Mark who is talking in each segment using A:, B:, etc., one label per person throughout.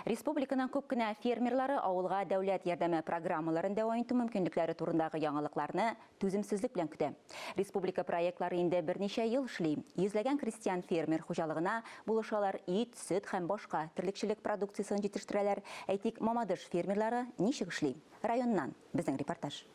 A: Республиканың күп кенә фермерлары авылга дәүләт ярдәме программаларын дәвам итү мөмкинлекләре турындагы яңалыкларны түземсезлек белән көтә. Республика проектлары инде берничә ел эшли. Йөзләгән крестьян фермер хуҗалыгына булышалар, ит, сөт һәм башка терлекчелек продукциясен җитештерәләр. Әйтик, Мамадыш фермерлары ничек эшли? Районнан безнең репортаж.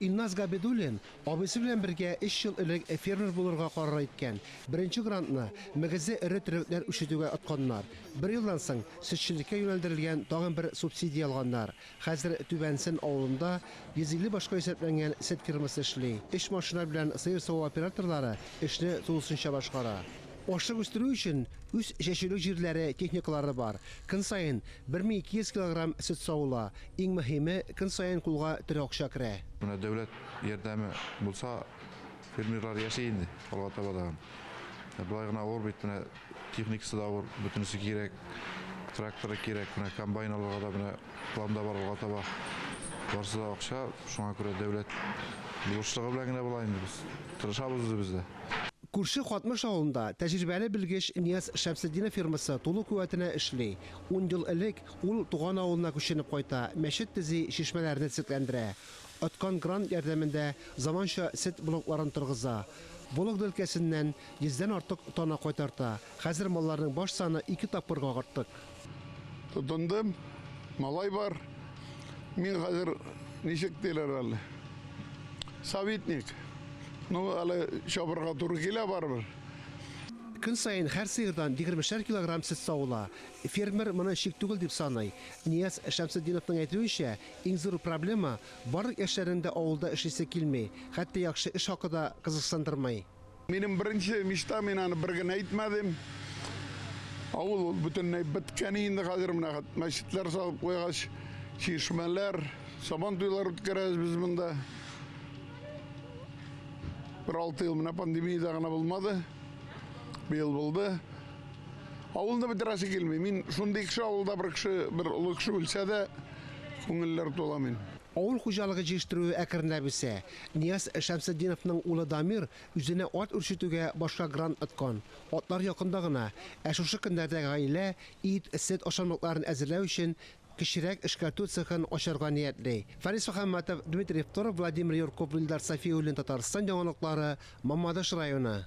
B: Илназ Габидуллин абыйсы белән бергә өч ел элек фермер булырга карар иткән. Беренче грантны, мөгезле эре терлекләр үрчетүгә отканнар. Бер елдан соң сөтчелеккә юнәлдерелгән тагын бер субсидия алганнар. Хәзер Түбән Сен авылында 150 башка исәпләнгән сөт фермасы эшли. Өч машина белән сыер саву операторлары эшне тулысынча башкара. Ашык үстерү өчен үз чәчүлек җирләре, техникалары бар. Көн саен бер мең ике йөз килограмм сөт савыла. Иң мөһиме, көн саен кулга тере акча керә. Менә дәүләт
C: ярдәме булса, фермерлар яши инде алга таба да. Болай гына авыр бит, менә техникасы да авыр, бөтенесе кирәк. Тракторы кирәк, менә комбайн алырга да менә планда бар алга таба. Барысы да акча, шуңа күрә дәүләт булышлыгы белән генә болай инде без. Тырышабыз үзебез дә. Күрше Катмыш
B: авылында тәҗрибәле белгеч Нияз Шәмсетдинов фирмасы тулы куәтенә эшли. Ун ел элек ул туган авылына күченеп кайта, мәчет төзи, чишмәләрне төзекләндерә. Откан грант ярдәмендә заманча сөт блокларын торгыза. Вологда өлкәсеннән йөздән артык тана кайтарта. Хәзер малларның баш саны ике тапкырга агарттык. Тотындым,
D: малай бар. Мин хәзер, ничек диләр әле, советник. Ну, әле чабырга туры килә барыбер. Көн
B: саен һәр сыердан егермешәр килограмм сөт савыла. Фермер моны чик түгел дип саный. Нияз Шәмсетдиновның әйтүенчә, иң зур проблема, барлык яшьләрнең дә авылда эшлисе килми, хәтта яхшы эш хакы да кызыксындырмый. Минем беренче
D: мечта, мин аны бер генә әйтмәдем. Авыл ул бөтенләй беткән инде хәзер менә хәт мәчетләр салып куйгач, чишмәләр, сабан туйлар үткәрәбез без монда. Бер алты ел менә пандемиядә генә булмады. Быел булды. Авылны бетерәсе килми. Мин шундый кеше авылда бер кеше, бер олы кеше үлсә дә, күңелләр тула мин. Авыл хуҗалыгы
B: җиештерүе әкренләп үсә. Нияз Шәмсетдиновның улы Дамир үзенә ат үрчетүгә башка грант откан. Атлар якында гына, ә шушы көннәрдә гаилә ит, сөт ашамлыкларын әзерләү өчен кечерәк эшкәртү цехын ачарга ниятли. Фарис Мөхәммәтов, Дмитрий Второв, Владимир Юрков, Вилдар Сафиуллин, Татарстан яңалыклары, Мамадыш районы.